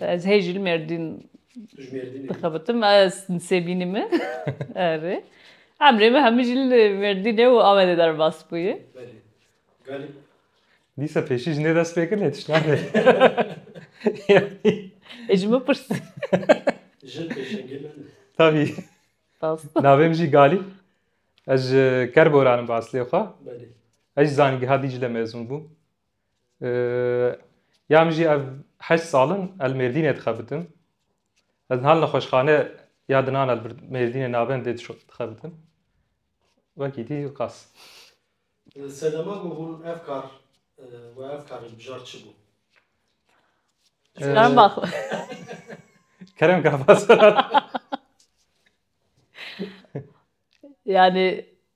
Ez hê jil mêrdîn dixebitim ez nisêbînî min erê. Emrê min hemû jil mêrdînê û Amedê derbas bûye. Galî. Dîsa pêşî jinê dest pê kir lê tişt nade. Ê ji min pirs. Jin pêşengê min. Tabî. Navê min jî Galî. Ez ji Kerboran im bi eslê xwe. Ez jî zanîngeha Dîcle mêzûn bûm. Ya min jî ev heşt sal in li Mêrdînê dixebitim. Ez niha li nexweşxane ya dinan li Mêrdînê navendê dixebitim. Wekî dî qas. Sedema ku hûn ev kar we ev karê bijar çi bû? Kerem Bak. Kerem Kabas. Yani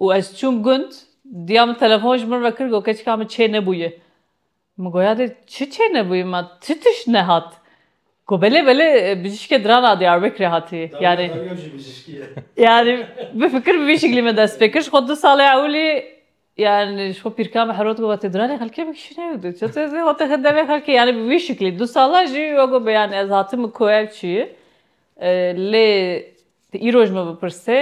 Û ez çûm gund, diya min telefon ji min ve kir got keçika min çê nebûye. Min got ya dê çi çê nebûye ma çi tişt nehat? Got belê belê bijîşkê diran a Diyarbekirê hatiye. Yanî yanî bifikir bi vî şiklî me dest pê kir ji xwe du salê ewilî yanî ji xwe pîrka min herot got vatê diranê xelkê bikişîne û tu çi dixwazî xwe tixî demê xelkê yanî bi vî şiklî du sala jî we got yanî ez hatime ku ev çi ye lê tu îro ji min bipirsê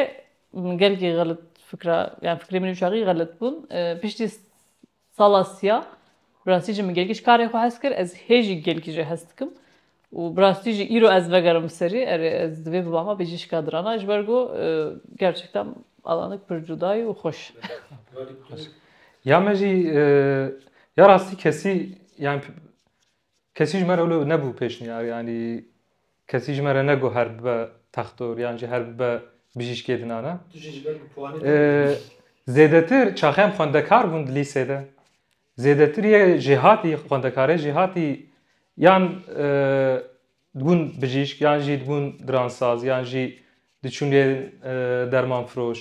Min gelkî xelit fikra yani fikrê min ûçaxî xelit bûn. Piştî sala siya bi rastî jî min gelkî ji karê xwe hez kir. Ez hê jî gelkî jê hez dikim û bi rastî jî îro ez vegerim li serî erê ez divê bibama pêcîşka dirana ji ber ku gerçekten alandik pir cuda ye û xweş. Ya me jî ya rastî kesî yani Kesî ji me re wilo nebû pêşniyar yanî kesî ji me re negot her bibe textor yan jî her bibe bijîşkê di nana. Tu jî ji ber bi puanê têkilî. Zêdetir çaxeyên xwendekar bûn di lîsê de. Zêdetir yê jêhatî xwendekarê jêhatî yan dibûn bijîşk yan jî dibûn diransaz yan jî diçûn lê dermanfiroş.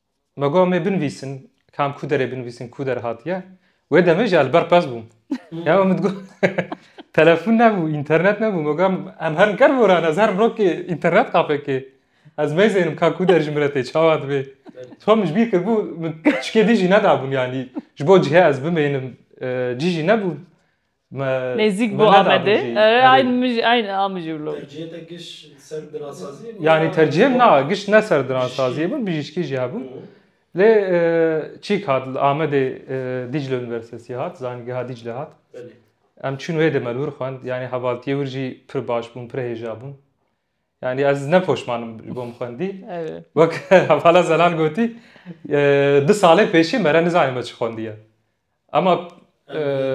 Me got mê binivîsim kam ku derê binivîsim ku der hatiye. Wê demê jî li ber qez bûm. Ya min digot telefon nebû, înternet nebû. Me got em herin ker boran ez herin rokê înternet kafekê. Ez meyzênim ka ku der ji min re tê çawa dibê. Tom min ji bîr kiribû min tişkê din jî nedabûn yanî ji bo cihê ez bimênim cî jî nebûn. Me Nêzîk bû neda Amedê. bijî. Erê Erê. ayn mij ayn a mij û lo. Tercihê te giş ser diransaziyê bû Yanî ya tercihim na wan? giş ne ser diransaziyê Bijîşkî. bû, bijîşkî jî hebû. Û? Lê çîk hat li Amedê Dîcle Unîversitesî hat, Zanîngeha Dîcle hat. Belê. Em çûn wê de me li wir xwend. Yanî hevaltiyê wir jî pir baş bûm, pir hêja bûm. Yani ez ne poşmanim ji bo min xwendî. Wek hevala zelal gotî du salê pêşî mere nizanim me çi xwendiye. Ama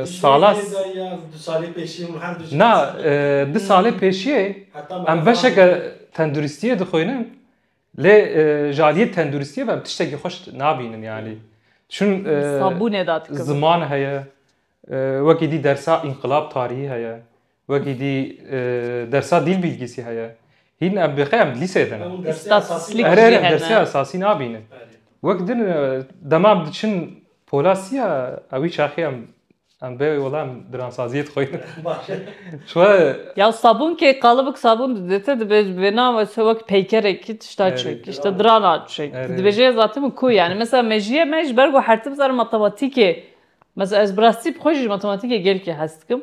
sala Na du salê pêşiyê em beşeke tenduristiyê dixwînin lê ji aliyê tenduristiyê ve em tiştekî xweş nabînin yanî. Çün ziman heye wekî dî dersa înqilab tarîhî heye. Wekî dî dersa dîl bîlgîsî heye. Hîn em bêqe em lîseyê de ne. Ere ere dersê esasî nabînin. Wek din dema em diçin pola sî ya ewî çaxê em Em bê wala em diransaziyê dixwînin. Çwe Ya sabûn kê qalibik sabûn didête dibê ji vêna wese wek peykerekî tişta çêk îşte dirana çêk. Tu dibê jê zatim ku yanî mesela mejiyê me ji ber ku her tim zana matematîkê mesela ez bi rastî bi xwe jî matematîkê gelkî hes dikim.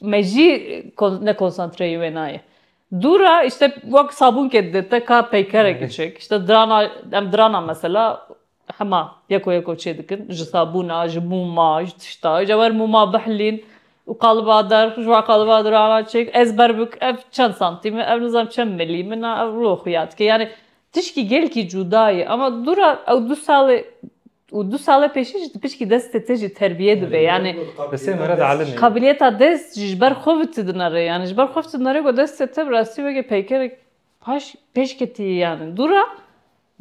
Me jî ne konsantreyê wê nayê. Dûr e îşte wek sabûnkê dide te ka peykerekî çek îşte dirana em dirana mesela hema yeko yeko çê dikin ji sabûna ji mûma ji tişta îşte wer mûma bihilîn û qaliba der xwe ji wan qaliba dirana çêk ez ber bikim ev çend santîm e ev nizanim çend milî min e ev rû xuya dike yanî tişkî gelkî cûda ye ema dûr e ew du salê û du sala pêşî jî di pişkî destê te jî terbîye dibe yanî qabiliyeta dest jî ji ber xwe vitidine rê yanî ji ber xwe vitidine rê ku destê te bi rastî weke peykerek paş pêşketî yî yanî dû ra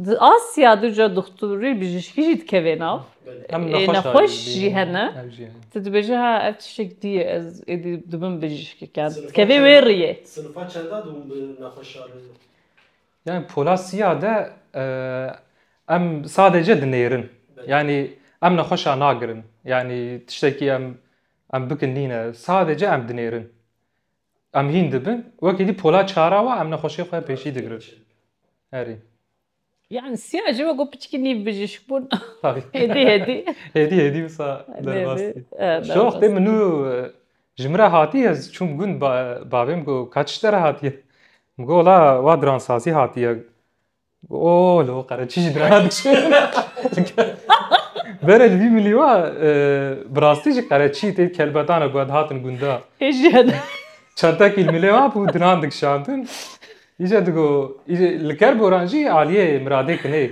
di Asya di ca dixturî bijîşkî jî dikevê nav nexweş jî hene tu dibêje ha ev tiştek dî ye ez êdî dibim bijîşkek yan dikevê wê rîyê Yani pola siya de em sadece dinêrin. Yani em nexweşa nagirin. Yani tiştekî em em bikin nîne. Sadece em dinêrin. Em hîn dibin. Wekî dî pola çara wa em nexweşiyê xwe pêşî digirin. Herî. Yani siya ji we got piçikî nîv bijîşk bûn. Hêdî hêdî. Hêdî hêdî wisa derbastî. Ji wextê min nû Ji min re hatiye ez çûm gund bavê min got ka çi te re hatiye? Min got wala wa diransazî hatiye. O li ho qere çi ji dirana diçe. Bere li vî milî wa e, bi rastî jî qere çî tê kelbetan e ku ez hatin gunda. Çentekî li milê wa bû diran dikişandin. Îje digo, îje li ker goran jî aliyê miradê kinê.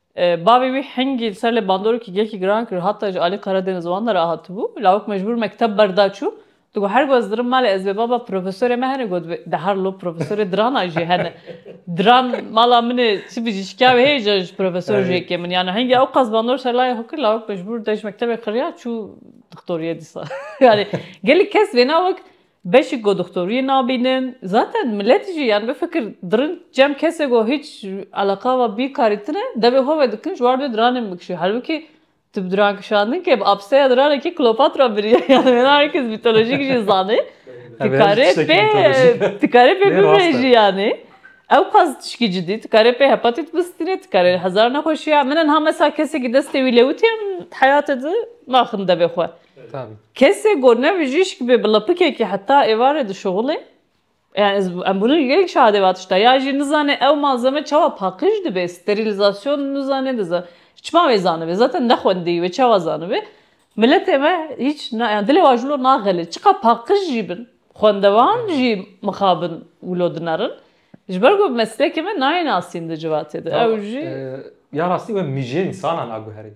Bavê wî hingî li ser lê bandorokî gelkî giran kir. Hata ji alî qere dêne ziwan de re hatibû. Lawik mecbûr mekteb berda çû. Digot her ku ez dirim malê ez bê baba profesorê me hene got bê. De her lo profesorê diranan jî hene. Diran mala min ê çi bijî ji kevê heye ca ji profesor jê kêm in. Yani hingî ew qas bandor ser layê xwe kir lawik mecbûr dej mektebê qiriya çû dixtoriyê dîsa. Yani gelek kes wêna wek Beşî ku doxtoriyê nabînin. Zaten miletî jî yan bifikir dirin cem kesê ku hîç eleqa ve bîkarî tine devê xwe vedikin ji war dê diranên bikişî. Halbikî tu bi diran kişandin kê bi apseya diranekî Kleopatra biriye yan wê ne herkes mîtolojîk jî zanê. Tu karê pê tu karê pê bibêjî yanî. Ew qas tişkî cidî. Tu karê pê hepatît bistînî, tu karê hezar nexweşî ya. Min niha mesela kesekî destê wî lewitiye min heyatê di naxin devê xwe. Kesê ku ne bijîşk be bi lapikekî heta êvarê dişuxile. Yani em bûne gelek şahidê va tişta. Ya jî nizane ew malzeme çawa paqij dibe, sterîlîzasyon nizane diza. Çima wê zanibe? Zaten nexwendiyî wê çawa zanibe? Miletê me hîç yani dilê wan jilo naxelê. Çiqa paqij jî bin, xwendevan jî mixabin wilo dinerin. Ji ber ku meslekê me nayê nasîn di civatê de. Ew jî. Ya rastî we mijê însanan aguherîn.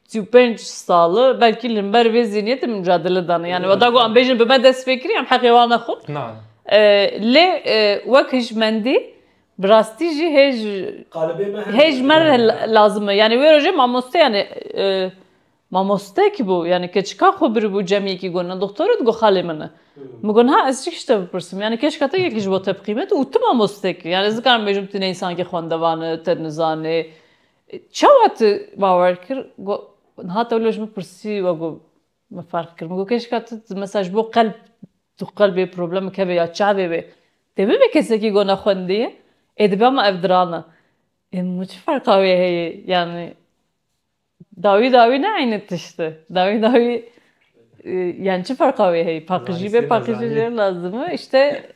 Sî û pênc sal belkî li himber vê zîniyetê min micadele dane. Yanî weta ku em bêjin bi me dest pê kirî em heqê wan nexwin. Lê wek hişmendî bi rastî jî hêj hêj me re lazim e. Yanî wê rojê mamoste yanî mamoste kî bû yanî keçika xwe biribû cemiyekî got doktor û digot xalê min e. Min got ha ez çi tişt te bipirsim yanî keşka te yekî ji bo te biqîmet û tu mamoste kî. Yanî ez nikarim bêjim tu ne însankî xwendevan î te nizanê Çawa tu bawer kir? Got, Niha tewlo ji min pirsî we got, Min ferq kir. Min got, Kêşka tu mesela ji bo qelb tu qelbê problemek hebe ya çavê wê dê bibe kesekî ku nexwendî ye, ê dibe ma ev diran e. Ê min got, Çi ferqa wê heye? Yanî dawî dawî ne eynî tişt e. Dawî dawî yanî çi ferqa wê heye? Paqijî be paqijî jê lazim e. Îşte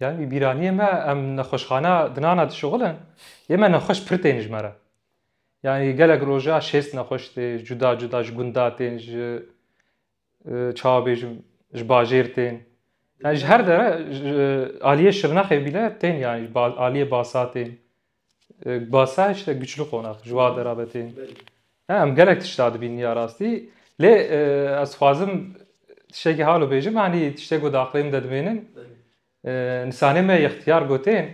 Ya wî bîraniyê me em nexweşxana dinana dişuxilin yê me nexweş pir tên ji me re. Yanî gelek roja şêst nexweş tê cuda cuda ji gunda tên ji çawa bêjim ji bajêr tên. Yani ji her dere aliyê Şirnexê bîne tên yanî aliyê Basa tên. Basa işte güçlü qonak ji wa derabetê. Em gelek tişta dibînin ya rastî. Lê ez xwazim tiştekî halo bêjim hanî tiştek ku di aqlê min de dimênin. Nisanê me yextiyar gotên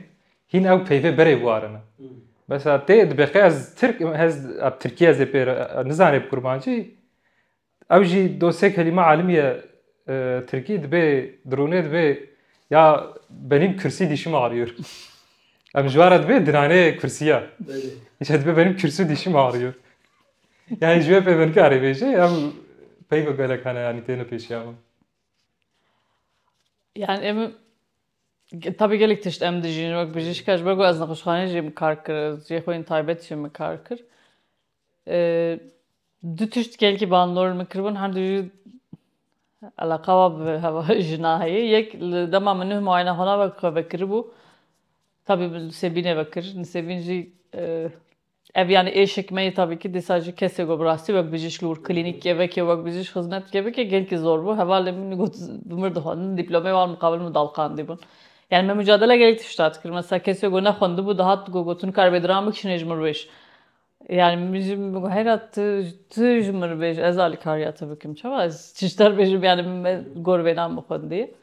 hîn ew peyvê berê warin in. Mesela tê dibeqê ez Tirk ez Tirkî ez ê pê re nizanê bi kurmancî Ew jî do sê kelîme alimîye tirkî dibê dironê dibê ya benîm kursî dîşim arîyor. Em ji wara dibê diranê kursîya. Îşe dibê benîm kursî dîşim arîyor. Yani ji wê pê min karê bêje ew peyva gelek hene yanî têne pêşiya min. Yani em tabi gelek tişt em dijîn wek bijîşka ji ber ku ez nexweşxaneyê jî kar kir, cihê xwe yên taybet jî min kar kir. Du tişt gelkî bandor min kiribûn hem dijî eleqa wa bi heva jina heye. Yek li dema min nuh muayene xwena ve xwe vekiribû tabî min Nisêbînê vekir. Nisêbîn jî ev yanî êşek me yê tabî kî dîsa jî kesê ku bi rastî wek bijîşk li wir klînîkê veke wek bijîşk xizmet dike veke gelkî zor bû. Hevalên min jî got bi mir dixwendin dîplomeyê wan miqabil min dawqandîbûn. Yanî me mucadele gelek tişta dikir. Mesela kesê ku nexwendibû dihat ku got tu nikare bêdiram bikişînê ji mirwêş. Yani min jî heyra tu tu ji min re bêje ez alîkariya te bikim çawa ez çi ji te re bêjim yani min me gor vêna min xwendî.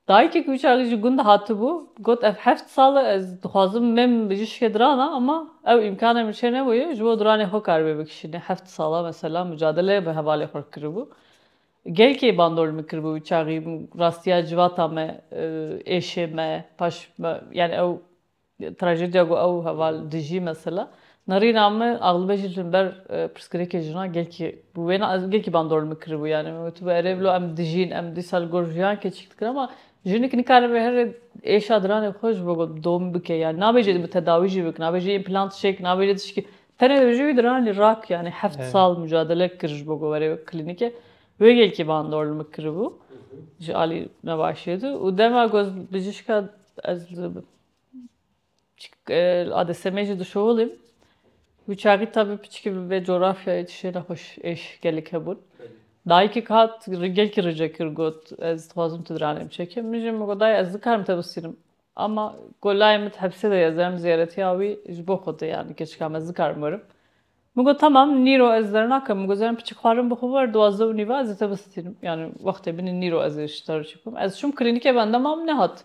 Dayikek wî çaxê ji gund hatibû got ev heft sal e ez dixwazim mêm bijî şikê dirana ama ew îmkanê min çênebûye ji bo diranê xwe karibê bikişîne heft sala mesela mucadele bi hevalê xwe kiribû. Gelkê bandor li min kiribû wî çaxî rastiya civata me êşê me paş yani ew Trajedya ku ew heval dijî mesela nerîna min exlîbe jî li ber pirsgirêkê jinan gelkî bû. Wêna ez gelkî bandor li min kiribû yanî min gotibû erê bila em dijîn em dîsa li gor jiyan keçik dikin ama jinik nikaribe herî êşa diranê xwe ji bo domî bike yanî nabêje dibe tedawî jî bikin nabêje împlant çêk nabêje tişkî tenê dibêje wî diranî rak yanî heft sal mucadele kir ji bo ku were klînîke wê gelkî bandor li min kiribû ji alî nebaşiyê de û dema ku ez bijîşka ez li Adeseme jî dişoholîm. Bi çaxî tabi piçikî bi vê coğrafyayê tiştê nexweş êş gelek hebûn. Dayikek hat gelkî rica kir got ez dixwazim tu diranê biçekim. Min jî min got dayê ez nikarim te bisînim ama ku layê min di hepsê de ye ez derim ziyaretiya wî ji bo xwe tê yanî keçikam ez nikarim werim. Min got temam nîro ez derna kem. Min got zerrin piçik xwarin bixwe wer duwazdeh û nîve ez ê te bisînim. Yanî wextê binê nîro ez ê ji te re çi bikim. Ez çûm klînîkê bendama min nehat.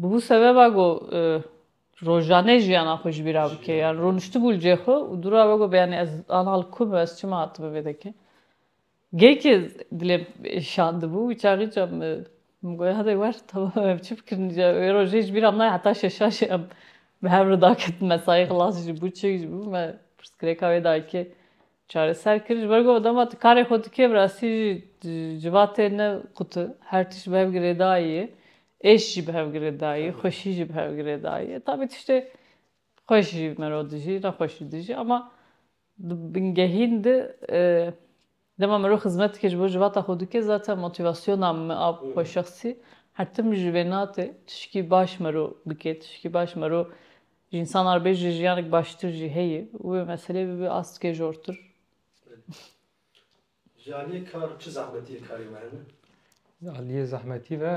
Bûbû sebeba ku rojane jiyana xwe ji bî re bike. Yan rûniştibû li cihê xwe û dûra we got yanî ez ana li ku me, ez çima hatibû vê dekin. Geyikê dilê min şandibû, wî çaxî çand min. Min got hade wer temam em çi bikin îcar û wê rojê ji bî re nayê heta şeşan jî em bi hev re daketin mesayî xilas jî bû çêk jî bû me pirsgirêka wê dayikê Çareser kir ji ber ku dema tu karê xwe dikê bi rastî jî civatê ne qut e. Her tişt bi hev girêdayî ye. Êş jî bi hev girêdayî, xweşî jî bi hev girêdayî ye. Tabî tiştê xweş jî mero dijî, nexweş jî dijî ama di bingehîn de dema mero xizmeteke ji bo civata xwe dike zaten motîvasyona min a xwe şexsî her tim ji vê nate tişkî baş mero bike, tişkî baş mero Ji însanan re bê ji jiyanek baştir jî heye û wê meselê bibe astikê jortir. Ji aliyê kar çi zehmetî li karê me hene? Ji aliyê zehmetî ve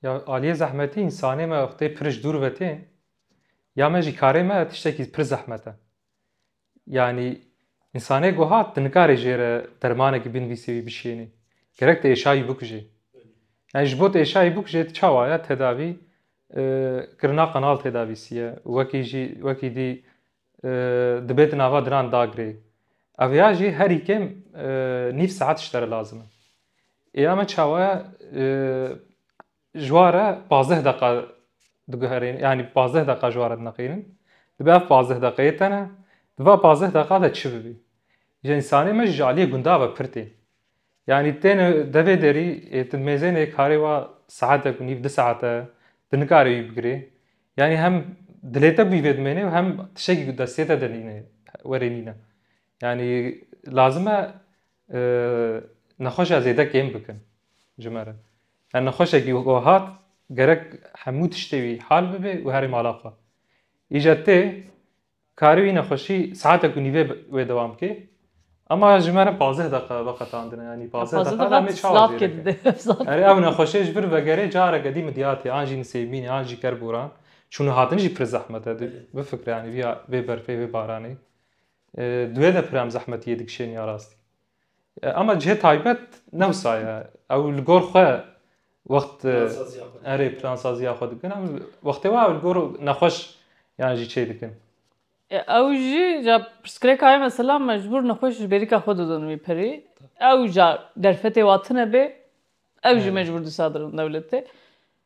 ya aliyê zehmetî însanê me wextê pir ji dûr ve tên ya me jî karê me tiştekî pir zehmet e. Yanî însanê goha tu nikarî jê re dermanekî binivîsî wî bişênî. Gerek tu êşayî bikujî. Yani ji bo tu êşayî bikujê tu çawa ya tedavî kirina qanal tedavîsî ye. Wekî jî wekî dî dibê di nava dinan da girê. Ev ya jî herî kêm nîv saet ji te re lazim e. Ê ya me çawa ya Ji wa re pazdeh deqa diguherîn yanî pazdeh deqa ji wa re dineqînin. Dibe ev pazdeh deqeyê te ne. Di va pazdeh deqa de çi bibî? Ji însanê me jî ji aliyê gundan ve pir tên. Yanî têne devê derî ê tu mêzênê karê wa saetek û nîv du saet e, tu nikarî wî bigirî. Yanî hem dilê te bî vê dimênê û hem tiştekî ku destê te de nîne, werê nîne. Yanî lazim e Nexweşa zêde kêm bikin ji me re. Her nexweşekî weke hat gerek hemû tiştê wî hal bibe û herî mala xwe. Îca tê karî wî nexweşî saetek û nîvê wê dewam bike. Ema ji me re pazdeh deqa veqetandine yanî pazdeh deqa em ê çawa zêde bikin. Erê ew nexweşê ji vir vegerê careke dî midyatê an jî nisêbînê an jî kerboran çûn û hatin jî pir zehmet e. Bifikre yanî vê berfê vê baranê Di wê de pir em zehmetiyê dikişêne ya rastî. Ama cihê taybet ne wisa ye. Ew li gor xwe wext erê plansaziya xwe dikin. Em wextê wa ew li gor nexweş yan jî çê dikin. Ew jî ja pirsgirêka ye mesela mecbûr nexweş ji bêrîka xwe didin wî pirî. Ew ja derfetê wa tune bê ew jî mecbûr disa didin dewletê.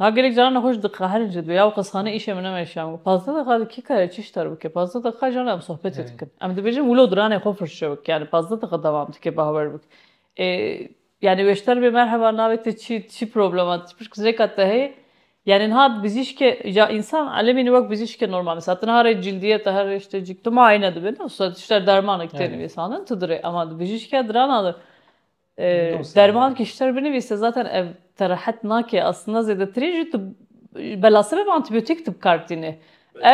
Niha gelek caran ne xwe ji diqehirin jî dibe ya qizxane îşê min neme îşê min got pazdeh deqiqa di kî karê çi şter bike pazdeh deqiqa jî hale em sohbetê dikin em dibêjin wilo diranê xwe firçe bike yanî pazdeh deqiqa dewam dike bawer bike ê yanî wê şter bê merheba navê te çi ye çi problema te pişt kinceka te heye yanî niha bizîşkê ya însan elemî ne wek bizîşkê normal misa ti niha rê cîldîye te her rê ştê cî tu muayene dibê ne wisa tişt der dermanek têne vê sanin tu di rê ema di bijîşkê dirana de. Derman kişter binivîse zaten ev te rehet nake aslında zêdetirî jî tu bela sebeba antîbiyotîk tu bikardînê.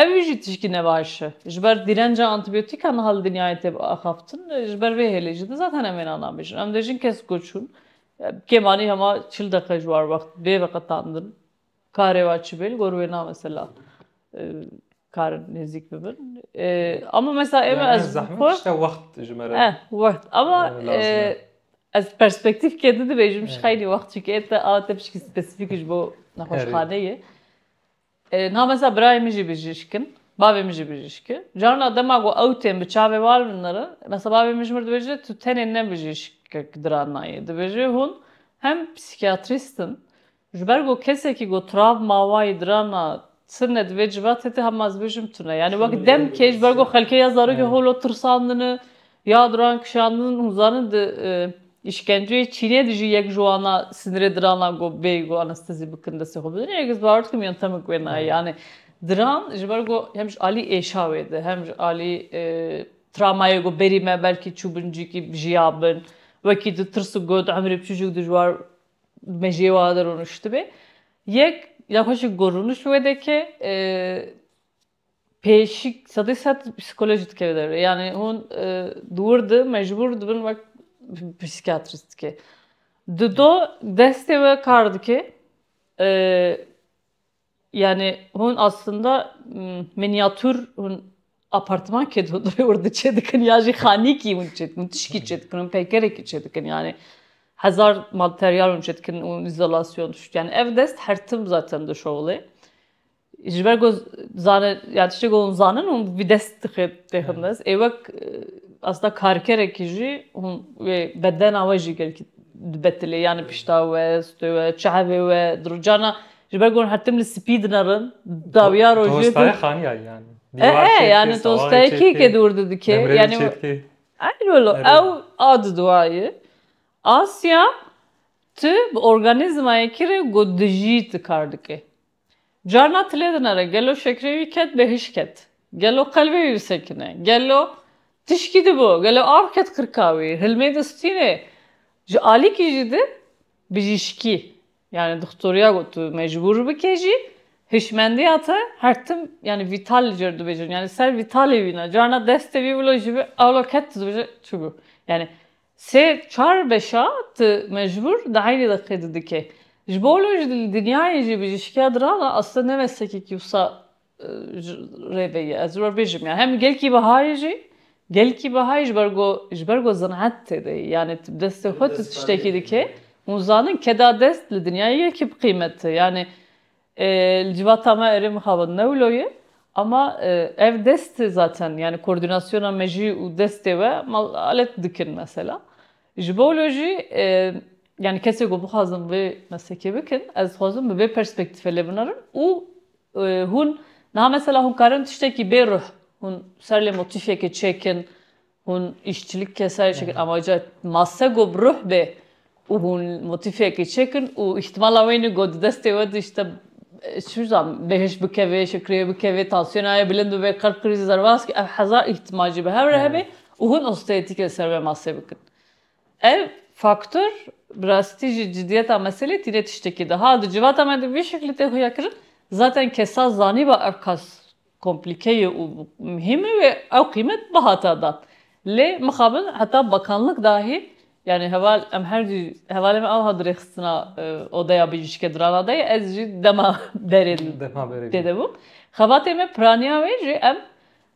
Ew jî tişkî ne baş e. Ji ber dîrenca antîbiyotîkan niha li dinyayê tê axaftin ji ber vê hêlê jî de zaten em wêna nabêjin. Em dê jin kes ku çûn kêm anî hema çil deqe ji war wext bê veqetandin Karê wa çi bên gor wê na mesela karin nêzîk bibin. Ama mesela ême ez zehmet işte wext ji me re. Eh wext ama ez perspektîf kê di dibêjim ji xeynî wext çîkê te a te pişkî spesîfîk ji bo nexweşxaneyê. Na mesela birayê min jî bijîşk in, bavê min jî bijîşk e. Carina dema ku ew tên bi çavê wan min re mesela bavê min ji min re dibêje tu tenê ne bijîşkek diranayê. Dibêje hûn hem psîkiyatrîst in Ji ber ku kesekî ku travma wayî dirana tune divê civa tê tê hema ez bêjim tune. Yanî wek demkê ji ber ku xelkê ya zarokê holo tirsandine ya duran kişandin hûn zanin di îşkenceyê Çînê de jî yek ji wana sinirê dirana ku bêyî ku anestezî bikin destê xwe bidin yek ez bawer dikim yontemik wê nayê. Yanî diran ji ber ku hem ji alî êşa wê de hem ji alî travmayê ku berî me belkî çûbin cîkî jiyabin wekî di tirs û got emrê biçûcûk dijwar mejiyê we a de rûniştibê. Yek ya xwe jî ku rûniş wê de ke pêşî sedî sed psîkolojî dikeve derve. Yanî hûn di wir de mecbûr dibin wek psîkiyatrîstke. Di do destê we kar dike. Yanî hûn aslında miniatûr hûn apartman kê dodorê ordi çê dikin ya jî xanîkî hûn çê dikin, tişkî çê dikin, hûn peykerekî çê dikin yanî hezar malteryal hûn çê dikin û îzolasyon dişt. Yanî ev dest her tim zaten di şowilê. Ji ber ku zane ya tiştê ku hûn zanin hûn bi vî dest dixê têxin dest. Ê wek aslında karkerekî jî hûn wê bedena we jî gelkî dibetilê yanî pişta we, stê we, çavê we, di rojana Ji ber ku hûn hertim li spî dinerin, dawiya rojê. Tolstoyê xaniya yanî. Dîwar çêdikê, sewayê çêdikê, demrelê çêdikê. Eynî wilo, ew a di duayê. Asya tu bi organîzmayekî re ku dijî tu kar dikê. Carna tu lê dinere gelo şekrê wî ket bê hişk ket, gelo qelbê wî bisekine, gelo tişkî dibo, gelo av ket qirka wî, hilmê distînê. Ji alîkî jî di bijîşkî Yanî doxtoriya got tu mecbûr bikê jî hişmendiya te her tim yanî vîtal li cêr dibêjin. Yanî ser vîtalê wî ne. Carna destê wî wilo jî bi ewlo ket tu dibêje çigû. Yanî sê çar beşa tu mecbûr di eynî deqê de dikê. Ji bo wilo jî li dinyayê jî bijîşkiya diran e. Aslê ne meslekekî wisa rê veyî ez ror bêjim ya hem gelkî Bahayê jî gelkî Bahayê ji ber ku ji ber ku zinet têde yê yanê tu bi destê xwe tu tiştekî dikê hûn zanin keda dest li dinyayê yekî bi qîmet e yanê li civata me erê mixabin ne wilo ye ama ev dest e zaten yanê koordînasyona me jî û destê we ma alet dikin mesela ji bo wilo jî yanê kesê ku bixwazin vê meslekê bikin ez dixwazim bi vê perspektîfe lê binarim û Hûn niha mesela hûn karin tiştekî bê ruh hûn ser lê motîfekê çêkin, hûn îşçilik ke serê çêkin ama ca masse go bi ruh bê û hûn motîfekê çêkin û îhtîmala wêne go di destê we de îşte çi bizanîm bêhişt bikevê, şekrê bikevê, tansiyona ye bilind bibe, qelb krîzî zerbaskî ev hezar îhtîmal jî bi hev re hebe û hûn osteotîk li ser vê massê bikin. Ev faktor bi rastî jî cidiyeta meselê tîne tiştekî da. Ha di civata me de vî şeklî tê xuya kirin, zaten kesa zanîba ev qas komplîke ye û muhîm e wê ew qîmet bihata dan. Lê mixabin heta bakanlik dahî yanî heval em her du hevalên me ewha dirêxistina odeya bijîşke dirana de ye ez jî dema berê tê de bûm. Xebatê me piraniya wê jî em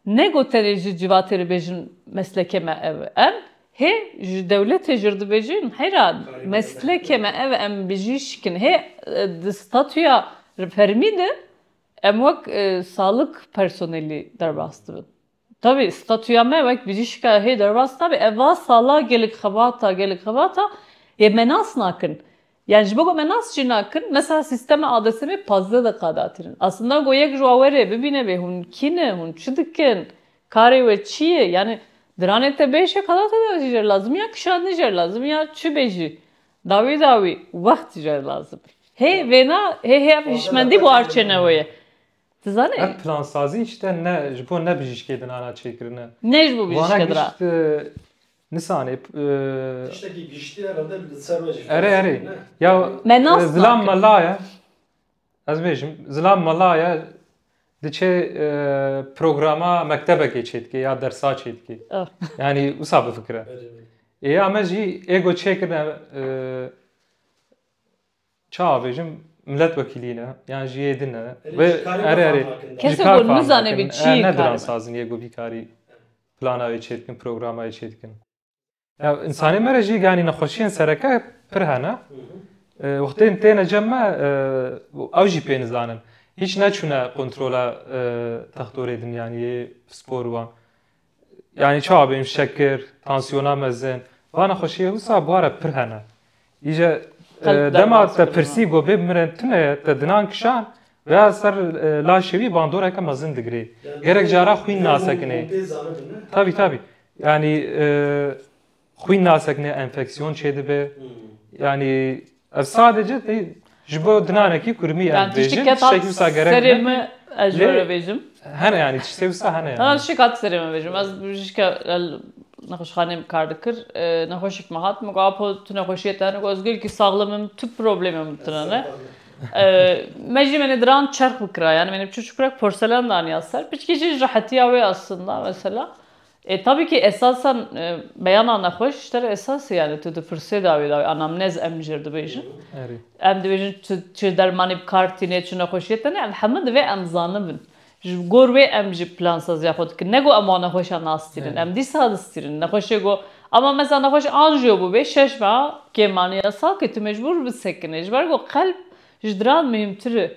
Ne got tenê ji civatê dibêjin meslekê me ev em, hê ji dewletê jî dibêjin heyra meslekê me ev em bi jî şikin. Hê di statuya fermî de em wek salik personelî derbas dibin. Tevî statuya me wek bi jî şika hê derbas nabe. Ev va sala gelek xebata gelek xebata yê me nas nakin. Yan ji bo ku me nas jî nakin, mesela sîstema ADSM'ê pazdeh deqa datirin. Aslında ku yek ji wan were bibîne vê hûn kî ne, hûn çi dikin, karê we çi ye, yanî diranê te bê şekalata de jî jer lazim ya kişandinê jer lazim ya çi bê jî dawî dawî wext jer lazim e. Hê vêna hê hê ev hişmendî bo arçênewe ye. Tu zanî? Ev plansazî îşte ne ji bo ne bijîşkê din ana çêkirine. Ne ji bo bijîşke din a. Wana gişt. Nisanê. Tiştekî giştî herhalde li ser me jî fêr Erê erê. dibin, ne? Ya Me nas zilam nakin. mela ye. Ez bêjim zilam mela ye diçe e, programa mektebekê çêdike ya dersa çêdike. Ah. Yanî wisa bifikire. Erê, erê. Ê ya me jî ego çêkirine e, Ça avêjim miletvekîlî ne yan ji yê din e vê erê erê ji kar fam nakin e ne diran sazin yê ku vî karî plana wê çê dikin programa wê çê dikin. Ya însanê me re jî yanî nexweşiyên sereke pir hene wextên têne cem me ew jî pê nizanin hîç neçûne kontrola textorê din yanî yê pispor û wan Yanî çawa bêm şekir, tansiyona mezin. Va nexweşiyê wisa bwara pir hene. Îje dema te pirsî got bê bimirin tu ne te dinan kişan veya ser laşê wî bandoreke mezin digirê. Gerek cara xwîn nasekinê. Tabî tabî. Yanî xwîn nasek ne enfeksiyon çêdibe. Yanî ev sadece tê ji bo dinanekî kurmî em bêjin tiştekî wisa gerek serê min ez ji were bêjim hene yanî tiştê wisa hene yani. Şik hat serê min bêjim ez jike nexweşxaneyê min kar dikir nexweşik min hat min got apo tu nexweşiyê te hene got ez gelekî saxlim im tu problemê min tune ne me jî menê diran çerx bikira yani menê bi çûçikurek porselen daniya ser piçkî jî ji rehetiya wê aslında mesela E tabî kî esasan beyana nexweş ji te re esas e yanî tu di firsê de wê dawî anamnez em jir dibêjin. Em dibêjin tu çi dermanî bi kar tînê çi nexweşiyê tenê em hemû divê em zanibin. Ji gor wê em jî plansaziya xwe dikin. Ne got em wan nexweşan nastînin. Em dîsa distînin. Nexweşê got ama mesela nexweş anjiyo bûbê şeş meha kêmaniya sakê tu mecbûr bi sekinê. Ji ber ku qelb ji diran muhîmtir e.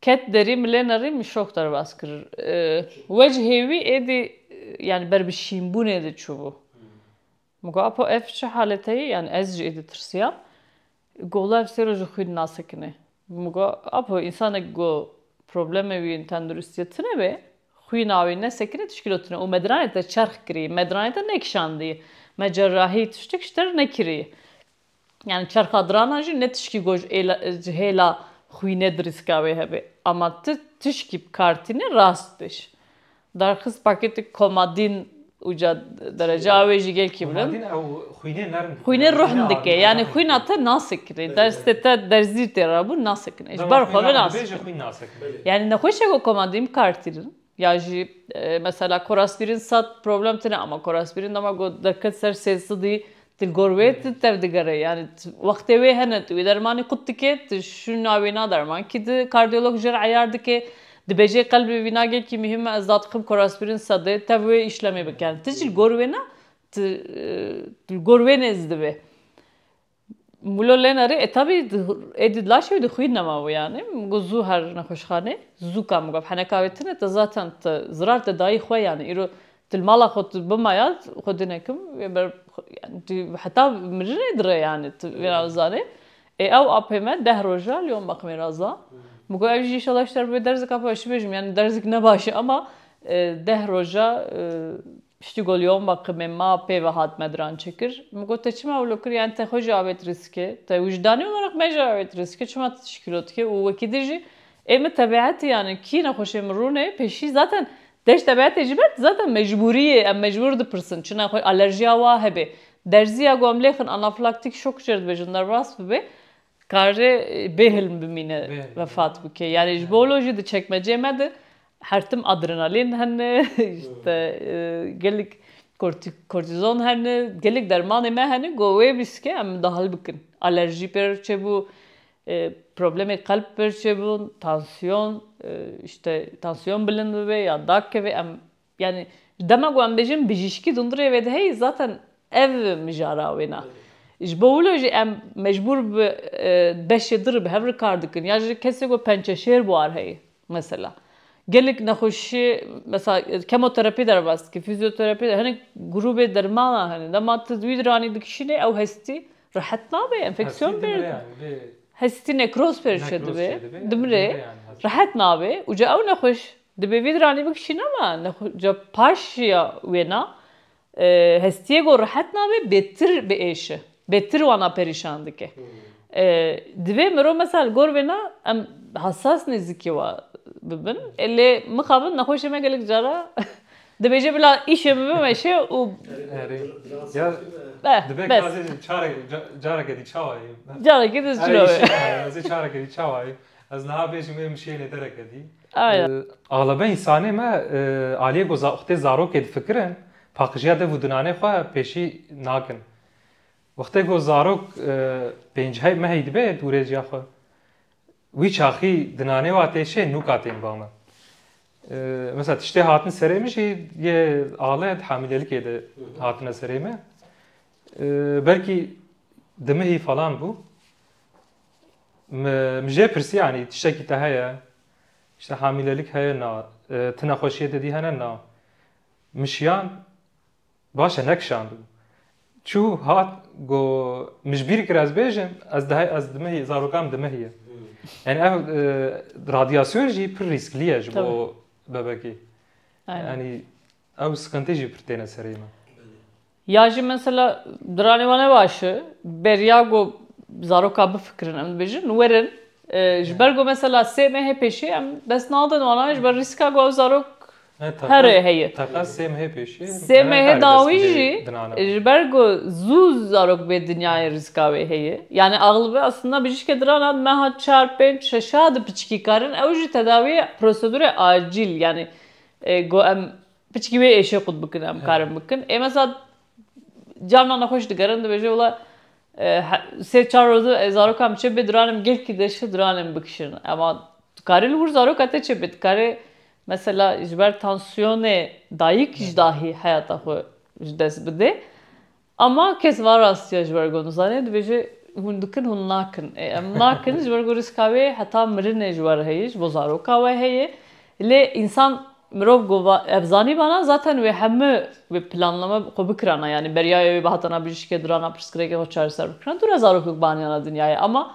Ket derî milê nerî min şok derbas kir. Wecihê wî êdî yanî ber bi şînbûnê de çûbû. Min got Apo ev çi halete ye? Yanî ez jî êdî tirsiyam. Got wila ev sê roj li xwî dinasekinê. Min got Apo însanek ku problemê wî yên tenduristiyê tune be, xwî navê nesekinê tişkilo tune û me diranê te çerx kirî, me diranê te nekişandî, me cerahî tiştek ji te re nekirî. Yani çerxa dirana jî ne tişkî ku ji hêla xwî ne dirîska wê hebe. Ama tu tişkî bi kar tîne rast bêj. Darxist pakêtê komadîn uca dereca wê jî gelkî bilind. Komadîn ew xwînê nerm dike. Xwînê ruhn dike. Yani xwîna te nasekine. Derstê te derzîr tê rabûn nasekine. Ji ber xwe binasike. Dema xwîn nade bêje xwîn nasek. Yani nexweşa ku komadîn bi kar tînin. Ya jî mesela korasbîrîn sed problem tine ama korasbîrîn dema ku derket ser sê sidî tu li gor wê tu tev digere yanî wextê wê hene tu wî dermanî qut dikê tu şûna wî na derman kî di kardiyolog jê re eyar dikê dibêjê qelbê wî na gelkî mihîm me ez dadikim korasbîrîn sedê tev wê îşlemê bike tu jî li gor wê ne tu li gor wê nêz dibê Mulo lena rê e tabî êdî di laş e û di xwîn nema wê yanê min got zû her nexweşxanê zû ka min got heneka wê tune te zaten te zirar te dayî xwe yanê îro tu li mala xwe tu bima ya xwe dune kim wê ber yanî tu heta mirinê di re yanî tu vê ra zanê ê ew apê me deh roj e li wan mexmê ra za min got ev jî înşela ji te re bibe derzeka baş çi bêjim yanî derzek ne baş e ema deh roj e Piştî ku li Yomba Qimê ma pêve hat me diran çêkir. Min got te çima wilo kir yanî te xwe jî avêt rîskê. Te wijdanî wilo nirx me jî avêt rîskê çima tu tişkîlo dikî û wekî din jî ê min tebeetî yanî kî nexweşê min rûnê pêşî zaten deş tebeetê jî be zaten mecbûrî yê em mecbûr dipirsin çi nexwe alerjîya wa hebê. Derzîya ku em lê xin anafilaktik şok jê re dibêjin derbas bibe Dikare bêhilm bimîne vefat bike. Yanî ji bo lo jî di çekmeceyê me de her tim adrenalîn hene, îşte gelek kortîzon hene, gelek dermanê me hene ku wê bîst ke em dahil bikin. Alerjî pê re çêbû, problemê qelb pê re çêbûn, tansiyon, îşte tansiyon bilind bibe ya dakeve em Yanî dema ku em bêjin bijîşkî dûndirê wê diheyî zaten ev mijara wê ne. Ji bo wilo jî em mecbûr bi beşê dir bi hev re kar dikin ya ji kesê ku pençeşêr buar heye mesela. Gelek nexweşî mesela kemoterapî derbas dike, fîzyoterapî hinek grûbê dermanan hene. Dema tu wî diranî dikişînê ew hestî rehet nabe, enfeksiyon bê. Hestî nekroz pêşê dibe, dimire. Rehet nabe û ca ew nexweş Dibê vî diranî bikişîne me nexweşî paş ya wêna hestiyê ku rehet nabe bêtir biêşe, bêtir wana perîşan dike. Divê mirov mesela li gor wêna em hesas nêzîkî wa bibin. Lê mixabin nexweşê me gelek cara dibêje bila îşê min bimeşe û careke dî çawa ye? Careke dî çawa ye? Ez niha bêjim ê min şênê dereke dî. Axlebe însanê me aliyê ku wextê zarokê difikirin, paqijiya dev û dinanê xwe pêşî nakin. Wextê ku zarok pênc mehî dibe dûrêciya xwe, wî çaxî dinanê wa tê şê nûka tên ba min. Mesela tiştê hatin serê min jî yê ale di hemîlelikê de hatine serê min. Belkî di mehî falan bû. Min jê pirsî yanî tiştekî te heye? Îşte hamîlelik heye na. Ti nexweşiyê te dî hene na. Min şiyand baş e nekişandibû. Çû hat got min ji bîr kir ez bêjim ez di heye ez dimihî zarokan min dimihîye. Yanî ev radyasyon jî pir rîsklî ye ji bo bebekê. Yanî ew siqintî jî pir têne serê min. Ya jî mesela diranê wan ne baş e, beriya ku zarokan bifikirin em dibêjin werin ji ber ku mesela sê mehê pêşî em dest nadin wana ji ber rîska ku ew zarok herê heye. Teqez sê mehê pêşî. Sê mehê dawî jî ji ber ku zû zarok bê dinyayê rîska wê heye. Yanî axlibe aslında bijîşkê dirana di meha çar, pênc, şeşa di piçikî karin ew jî tedawiyê prosedûrê acîl yanî ku em Piçkî wê êşê qut bikin em karin bikin. Ê mesa carna nexweş digerin dibêje wila sê çar roze ez zarokan biçe bê diranim gelkî deşi diranim bikişin. Ema tu karî li wir zaroka te çêbê. Tu karê mesela ji ber tansiyonê dayik ji dahî heyata xwe ji dest bidê. Ama kes va rastiya ji ber ku dizane dibêje hûn dikin hûn nakin. Ê em nakin ji ber ku rîska wê heta mirinê ji wer heye ji bo zaroka we heye. Lê însan mirov ku va ev zanîbana zaten wê hemû wê planlama xwe bikirana yanî beryaya wê bi hatana bijîşkê durana pirsgirêkê xwe çareser bikirana tune zarokek bi aniyana dinyayê ama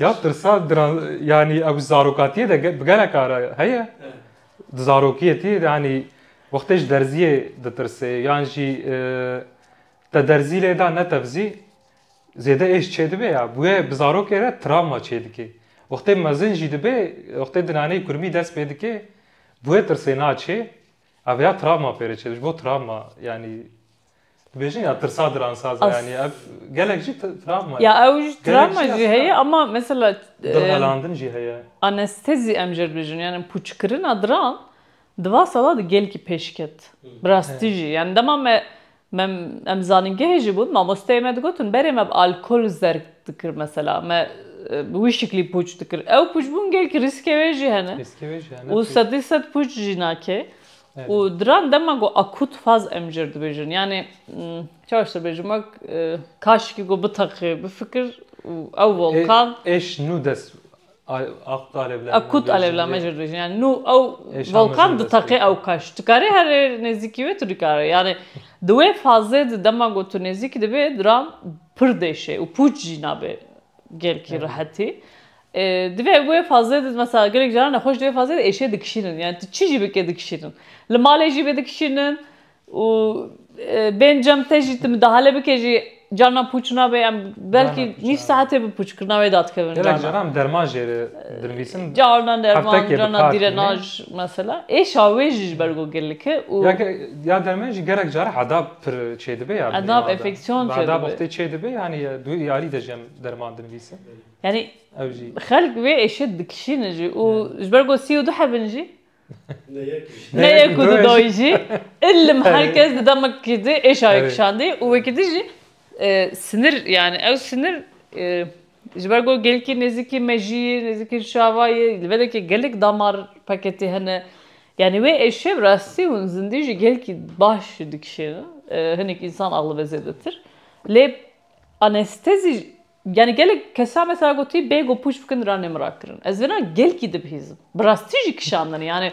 Ya tirsa giran yanî ew zarokatiyê de bi gelek ara heye. Di zarokiyetiyê de yanî wextê ji derziyê ditirsê yan jî te derzî lê da ne tevzî zêde êş çêdibe ya. Bûye bi zarokê re travma çêdike. Wextê mezin jî dibe wextê di naneyê kurmî dest pê dike bûye tirsê naçê ev ya travma pêre çêdibe ji bo travma yanî Dibêjin ya tirsa diransaz e yanî ev gelek jî travma ye. Ya ew jî travma jî heye ama mesela dilhelandin jî heye. Anestezi em jê dibêjin yanî pûçkirina diran di va sala de gelkî pêş ket. Bi rastî jî yanî dema me me em zanîngehê jî bûn mamosteyê me digotin berê me bi alkol zerg dikir mesela me bi wî şiklî pûç dikir. Ew pûçbûn gelkî rîskê wê jî hene û sedî sed pûç jî nake Û diran dema ku akût faz em jê re dibêjin. Yanê çawa ji te bêjim wek kaşikî ku biteqê bifikir û ew volkan. Êş nû dest akût alevlame. Akût alevlame jê re dibêjin. Yanê nû ew volkan diteqê ew kaş. Tu karî herê nêzîkî wê tu nikare. Yanê di wê fazê de dema ku tu nêzîkî dibê diran pir dêşê û pûç jî nabê. Gelkî rehetî. Divê wê fazê de mesela gelek caran nexweş di wê fazê de êşê dikişînin. Yani tu çi jî bike dikişînin. Li malê jî bê dikişînin û bên cem te jî tu midahale bike jî carnan pûç nabe yan belkî nîv saetê bi pûçkirina wê de dikevin carnan. Gelek caran derman jê re dinivîsin. Carnan derman, carnan dîrenaj mesela. Êşa wê jî ji ber ku gelek e û. Ya derman jî gelek caran hedap Pir çêdibe ya binê Nav enfeksiyon çêdibe. Bada boxtê çêdibe yani du iyalî de jem derman dinivîse. Yani ew jî. Xelk vê êşê dikişînin jî û ji ber ku sî û du hebin jî. Ne yek û du dayî jî. Ilim her kes di demekî di êşayê kişandî û wekî di jî sinir yani ew sinir Ji ber ku gelkî nêzîkî mejiyê, nêzîkî şavayê, li vedekê gelek damar paketê hene. Yanî wê êşiya bi rastî hûn zindî jî gelkî baş dikişêne. Hinek însan aglibe zêdetir. Lê anestezî yanî gelek kesan mesela gotî bê ku pûç bikin ranê min ra kirin. Ez vêna gelkî dibihîzim. Bi rastî jî kişandin. Yanî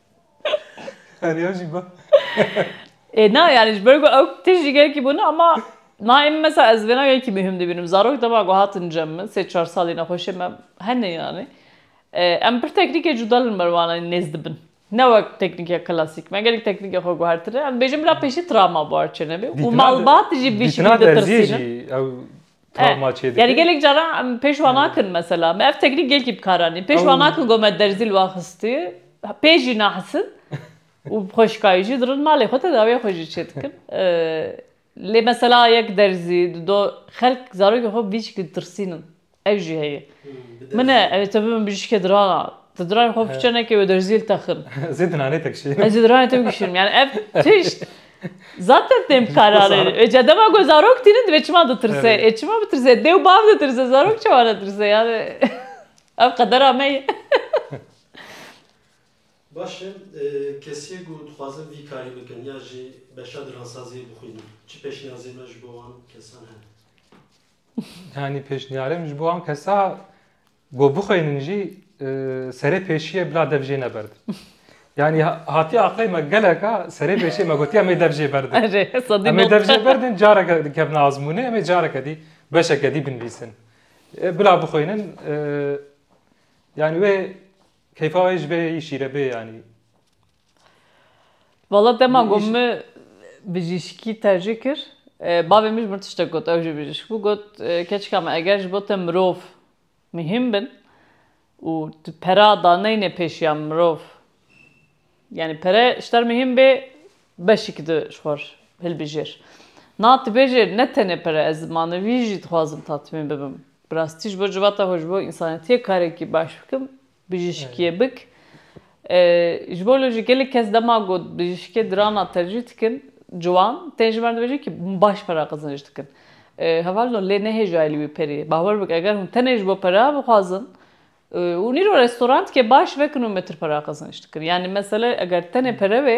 Heriya jî ba. Ê na yani ji ber ku ew tişt jî gelkî bûne ama na em mesela ez vêna gelkî muhim dibînim. Zarok dema ku hatin cem min sê çar salî nexweşê me hene yani em pir teknîkê cuda li me wan nêz dibin. Ne wek teknîkê klasîk. Me gelek teknîkê xwe guhertine. Em dibêjin bila pêşî travma bû her çi nebê û malbat jî vî şekilî ditirsînin. Dîtina derziyê jî ew Travma çê dike. Yani gelek caran em pêş van nakin mesela. Me ev teknîk gelkî bi kar anîn. Pêş van nakin ku me derzî li wan xistî. Pê jî nahisin û bi xweşikayî jî dirin malê xwe tedawîya xwe jî çê dikin. Lê mesela yek derzî di do xelk zarokên xwe vî şekilî ditirsînin. Ew jî heye. Min e ew ê te bibin bijîşkê dirana. Ti diranên xwe fiçe neke wê derziyê li te xin. Ez ê diranê te kişînim. Ez ê diranê te bikişînim. Yani ev tişt Zaten têm kararê. Ê ca dema ku zarok tînin divê çima ditirse. Ê çima bitirse? Dê û bav ditirse. Zarok çawa netirse? Yani ev qedera me ye. Baş e, kesiyê ku dixwazin vî karî bikin ya jî beşa diransaziyê bixwînin, çi pêşniyazê me ji bo wan kesan hene? Yanî pêşniyarê min ji bo wan kesa Ku bixwînin jî serê pêşiye bila dev jê neberdim. Yani hatiye aqlê me geleka serê pêşê me gotiye me dev jê berdin. Em ê dev jê berdin careke dikevne azmûnê em ê careke dî beşeke dî binivîsin. Bila bixwînin yani wê keyfa wê ji bê şîre bê yanî. Vala dema ku min bijîşkî tercîh kir, bavê min ji min tiştek got, ew jî bijîşk bû, got keçika min eger ji bo te mirov mihîm bin û tu pera daneyne pêşiya mirov, yanî pere ji te re mihîm bê beşîkî tu ji xwe re hilbijêr. Na tu bêje ne tenê pere ez manevî jî dixwazim tatmîn bibim. Bi rastî ji bo civata xwe, ji bo însanetiyê karekî baş bikim Bijîşkiyê bik. Ji bo li ji gelek kes dema got bijîşkê dirana tercîh dikin ciwan tên ji me re dibêjin kî hûn baş pera qiziniş dikin. Heval no lê nehêjayê li wî perê. Bawer bik eger hûn tenê ji bo pera bixwazin hûn îro restorantike baş vekin û metir pera qiziniş dikin. Yanî mesele eger tenê pere be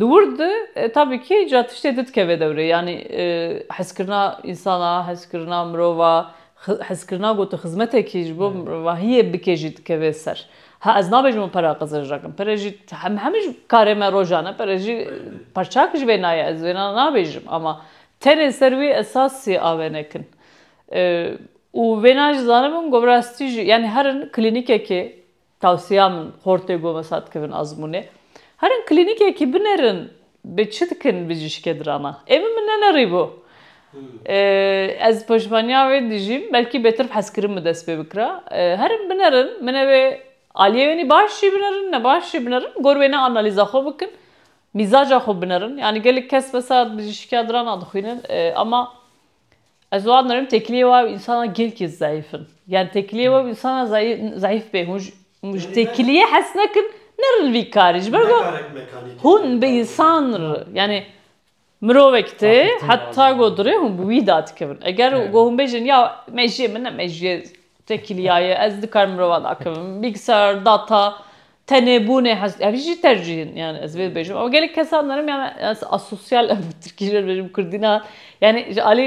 Di wir de tabî kî ca tiştê di dikeve dewrê yanî hezkirina însana, hezkirina mirova, hezkirina gotu xizmetekî ji bo mirvahiyê bike jî dikeve ser. Ha ez nabêjim û pere Xizir rakim. Pere jî em hemû ji karê me rojan e. Pere jî perçak ji vê nayê ez wêna nabêjim ama tenê ser wî esasî a venekin. Û wêna jî zanibin ku bi rastî jî yanî herin klînîkekê Tewsiya min xortê ku mesa dikevin azmûnê herin klînîkekî binerin bi çi dikin bijîşkê dirana. Ê min min nenerîbû. Ez pişmaniya wê dijîm belkî bêtir bi hezkirin bi dest pê bikira. Herin binerin min ev ê aliyê wê nî baş jî binerin ne baş jî binerin gor wê ne analîza xwe bikin mîzaca xwe binerin. Yanî gelek kes mesa bijîşkiya dirana dixwînin ama Ez wan dirim têkiliyê we û însanan gelkî zayîf in. Yan têkiliyê we û însanan zayîf bê. Hûn ji têkiliyê hez nekin, nerin vî karî. Ji ber ku hûn bi însan re yanî mirovek tê heta ku dirê hûn bi wî da dikevin. Eger ku hûn bêjin ya mejiyê min ne mejiyê têkiliya ye, ez dikarim mirova dakevim, bîlgisayar, data, Tenê bûnê hest ev jî tercîh in yani ez vê bêjim ama gelek kesan darim yani ez asosyal em bi tirkî jê dibêjim kurdî ne yani ji alî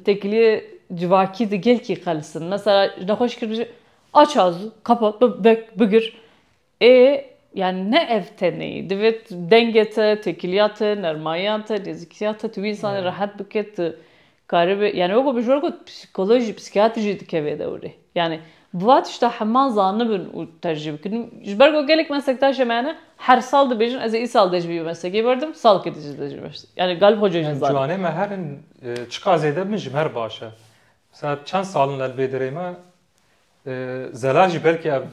têkiliyê civakî di gelkî qelis in mesela ji nexweşî kir bijî aç azû qapa bek bigir ê yani ne ev tenêyî divê dengê te têkiliya te nermayiya te nêzîkiya te tu wî însanê rehet bike tu Karibe, yanî wekî bijwar got psîkolog jî psîkîyatr jî dike vê dewrê. Yanî bi va tişta hema zanibin û tercîh bikin. Ji ber ku gelek meslektaşên me hene her sal dibêjin ez ê îsal dê ji vî meslekê berdim, salkê din jî dê ji vî meslekê. Yanî galib xwe cojin zanîn. Ciwanê me her in çiqas zêde bibin ji me her baş e. Mesela çend sal in li vê derê me zela jî belkî ev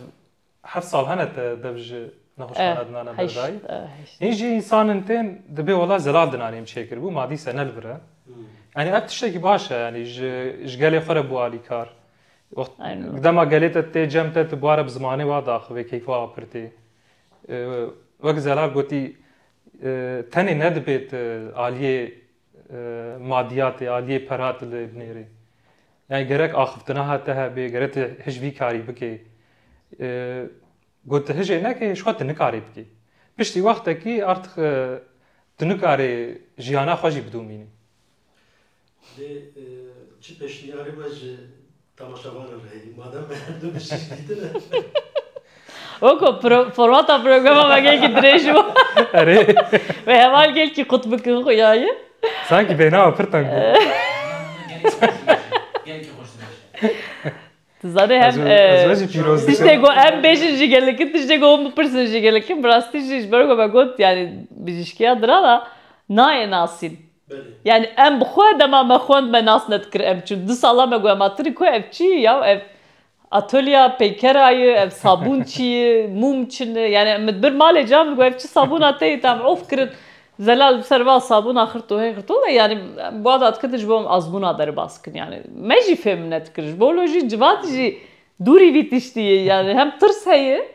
Her sal hene te dev ji nexweşxana Eh, dinane hej, berdayî. eh, hej. Hîn jî însan in tên dibê wela zelal dinanê em çêkir bû ma dîse ne li vir e. Yanî ev tiştekî baş e yanî ji ji gelê xwe re bû alîkar. Wext Aynen. gi dema gelê te tê cem te tu bare bi zimanê wa diaxivê keyf wa apirtê. Eh, Wek zelal gotî eh, tenê nedibê tu aliyê madiyatê, aliyê pera tile binêrê. Yani gerek axiftina hate hebê, gerek te hiç vî karî bikê. Got te hijê nekê ji xwe te nikarê bikê. Piştî wextekî artix tu nikarê jiyana xwe jî bidomînî. Lê çi peşniyarê we ji Temaşevanan heyî madem me her du bi şîş dîtine. Oko formata programa me gelkî dirêj bû. Erê. Ve heval gelkî qut bikin xwe yayê. Sankî bênawa pir teng bû. Gelkî xweş dirêj. Tu zanî hem tiştê ku em bêjin jî gelekî tiştê ku hûn bipirsin jî gelekî bi rastî jî ji ber ku me got yanî bijîşkiya diran a nayê nasîn. Yani em bi xwe dema me xwend me nas nedikir ev çi du sala me got ma tu ku ev çi yi yaw ev atolya peykera yi ev sabûn çi yi mûm çi ne yani min bir malê ca min got ev çi sabûna te ye te em of kirin zelal bi ser va sabûna xirto hê xirto de yani em bi wada diketin ji bo em azmûna derbas bikin yani me jî fêm nedikir ji bo lo jî civati jî dûrî vî tiştî ye yani hem tirs heye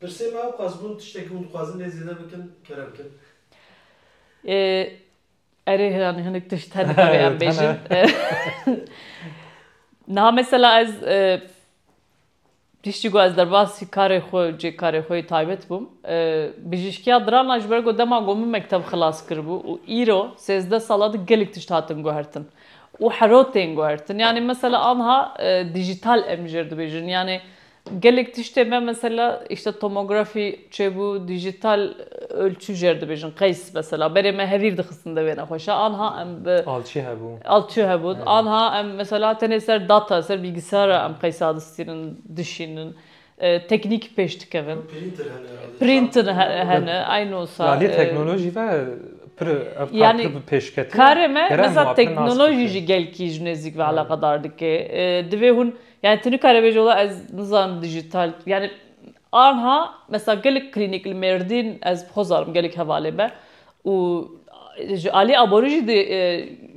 Pirsê me ew qas bûn tiştekî hûn dixwazin lê zêde bikin kere bikin. Erê yani hinek tişt hene divê em bêjin. Niha mesela ez piştî ku ez derbasî karê xwe û cê karê xwe yê taybet bûm bijîşkiya dirana ji ber ku dema ku min mekteb xilas kiribû û îro sêzdeh sal e di gelek tişt hatin guhertin û hero tên guhertin. Yanî mesela anha dîjîtal em jê dibêjin yanî Gelek tiştê me mesela îşte tomografî çêbû, dîjîtal ölçû jêr dibêjin, qeys mesela berê me hevîr dixistin di wê nexweşa anha em bi Alçî hebû. Alçî hebû. Anha em mesela tenê ser data, ser bîlgisara em qeysa distînin, dişînin. Teknîk pêş dikevin. Prînter hene herhalde. Prînter hene eynû wisa. Aliyê teknolojî ve pir ev kar pir bi pêş ketiye. Karê me mesela teknolojî jî gelkî ji nêzîk ve eleqedar dike. Divê hûn Yani tu nikare bêje wela ez nizanim dijital yani anha mesela gelek klînîk li Mêrdîn ez bixwe zanim gelek hevalê be û ji aliyê aborî jî di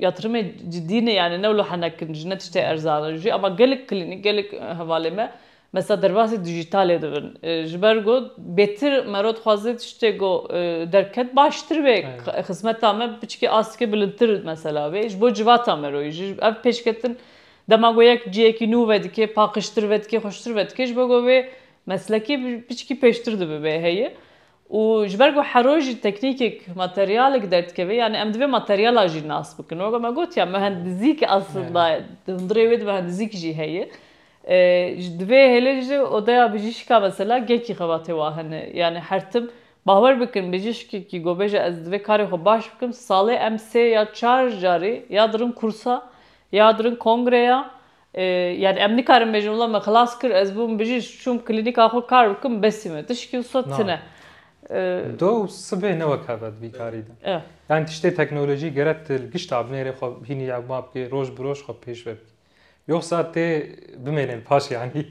yatrimê cidî ne yani ne wilo henek in jî ne tiştê erzan in jî ema gelek klînîk gelek hevalê me mesela derbasî dijitalê dibin ji ber ku bêtir mero dixwaze tiştê ku derket baştir bê xizmeta me biçikê astikê bilindtir mesela bê ji bo civata mero jî ev pêşketin Dema ku yek cihekî nû vedike, paqijtir vedike, xweştir vedike ji bo ku wê meslekî piçkî pêştir dibibe heye û ji ber ku hero jî teknîkek, materyalek derdikeve yanî em divê materyala jî nas bikin. Weke me got ya mehendizîk aslında di hundirê wê de mehendizîk jî heye. Divê hêlin ji odeya bijîşka mesela gehkî xebatê wan hene. Yanî her tim bawer bikin bijîşkekî ku bêje ez divê karê xwe baş bikim salê em sê ya çar carî ya dirin kursa Ya dirin kongreya yani em nikarin bêjin wila me xilas kir ez bûm bijî çûm klînîka xwe kar bikim besî me tişkî wisa tune. Do sibê ne wek heve di vî karî de. Yani tiştê teknolojî gere tu li gişt abnêrê xwe hînî yewma bikî roj bi roj xwe pêş ve bikî. Yoxsa tê bimênên paş yanî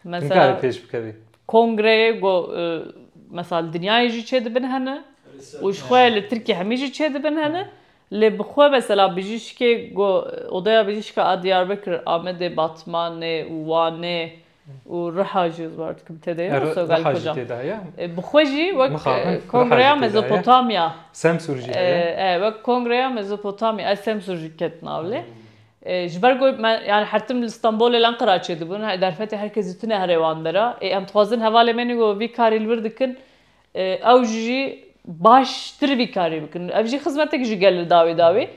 nikarî pêş bikevî. Kongreyê ku mesela li dinyayê jî çêdibin hene û ji xwe li Tirkiyê hemî jî çêdibin hene Lê bi xwe mesela bijîşkê ku Odeya Bijîşka a Diyarbekir, Amedê, Batmanê û Wanê û Riha jî war dikim tê de ye û Sogal Koca. Bi xwe jî wek Kongreya Mezopotamya. Semsûr jî heye. E, wek Kongreya Mezopotamya a Semsûr jî ket nav lê. Ji ber ku me yanî her tim li Stenbolê lan Qiraçê dibûn, derfetê her kes dîtine here wan der a. Ê em dixwazin hevalên me yên ku vî karî li wir dikin Ew jî baştir vî karî bikin. Ev jî xizmetek ji gel li dawî dawî.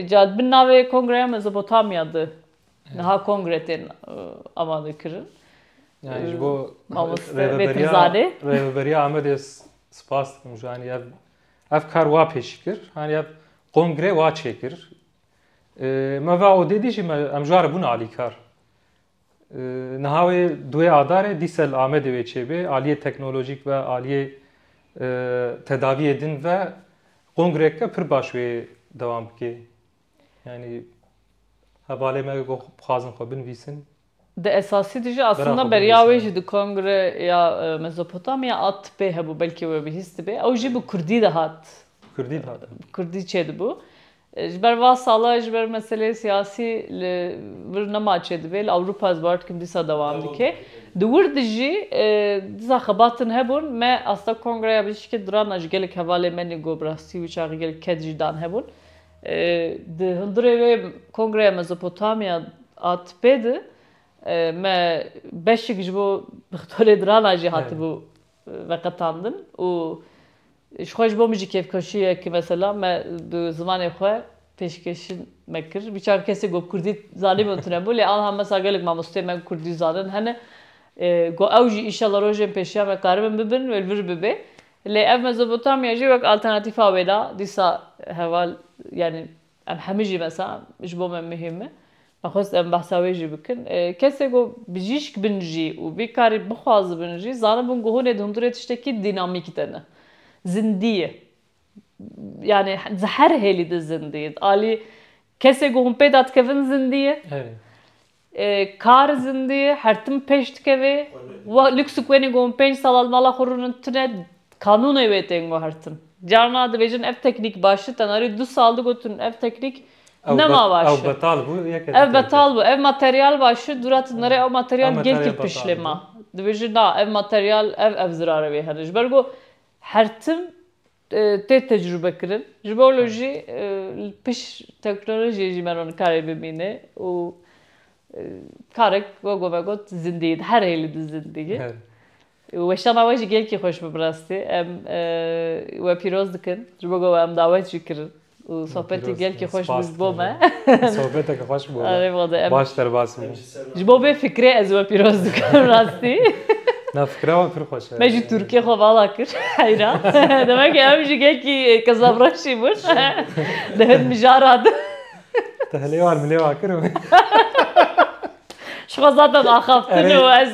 Ca di bin navê Kongreya Mezopotamya di niha kongre tên amade kirin. Yani ji bo rêveberiya rêveberiya Amedê spas dikim ji hani ev ev kar wa pêşî kir. Hani ev kongre wa çêkir. Me va odê dî jî me em ji ara bûn alîkar. Niha wê duê Adarê dîsel Amedê wê çêbê aliyê teknolojîk ve aliyê tedaviyê din ve kongreke pir baş wê dewam bikê. Yanî hevalê me ku bixwazin xwe binivîsin. Di esasî de jî aslında beriya wê jî di kongre ya Mezopotamya a tipê hebû belkî we bihîstibe ew jî bi kurdî dihat. Bi kurdî dihat. Bi kurdî çêdibû. Ji ber va sala ji ber meseleyê siyasî li vir nema çêdibê. Li Ewropa ez bawer dikim dîsa dewam dike. Di wir de jî dîsa xebatin hebûn. Me asta Kongreya Bijîşkê dirana ji gelek hevalên me nîgo bi rastî wî çaxê gelek ked jî dan hebûn. Di hundirê wê Kongreya Mezopotamya a tipê de me beşik ji bo doktorê dirana jî hatibû veqetandin û ji xwe ji bo min jî kêfxweşiye ku mesela me bi zimanê xwe pêşkêşin me kir. Bî çar kesê ku kurdî zanîbûn û tune bû lê anha mesela gelek mamosteyên me ku kurdî zanin hene ku ew jî înşallah rojên pêşiya me karibin bibin wê li vir bibê lê ev Mezopotamya jî wek alternatîfa wêla dîsa heval yanî Em hemû jî besa ji bo me muhîm e. Me xwest em behsa wê jî bikin. Kesê ku bijîşk bin jî û vî karî bixwazibin jî zanibin ku hûnê di hundirê tiştekî dînamîk de ne. Zindî ye. Yanî di her hêlî de zindî ye. Alî kesê ku hûn pê de dikevin zindî ye. Kar zindî her tim pêş dikeve. Wa lûksik wenê ku hûn pênc sala li mala xwe rûnin tune kanûnê wê tên guhertin. Carna dibêjin ev teknîk baş e, tenarî du sal digotin ev teknîk nema baş e. Ew betal bû yek e. Ev betal bû. Ev materyal baş e, dûra tenarî ew materyal gel kir pişlê me. Dibêjin na ev materyal ev ev zirarê wê hene. Ji ber ku her tim tê tecrûbekirin. Ji bo wilo jî li pişt teknolojiyê jî me re nikarê bimîne û karek wego me got zindiyî di her hêlî di zindiyî. Weşana we jî gelkî xweş bû bi rastî. Em we pîroz dikin. Ji bo ku em dawet jî kirin. û sohbetî gelkî xweş bû ji bo me. Sohbeteke xweş bû. Erê vade em. Baş derbas bû. Ji bo vê fikirê ez we pîroz dikim rastî. Na fikira wan pir xweş e. Me jî Tirkiyê xwe vala kir heyra. Demek e em jî gelkî kezabreşî bûn. Di hin mijara de. Te hilê wan milê wan kir. Ji xwe zaten axaftin û ez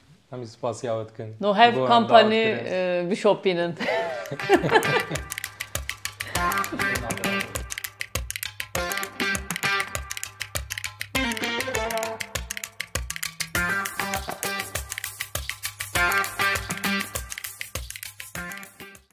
Em jî spasiya we dikin. No hev kampanî bişopînin.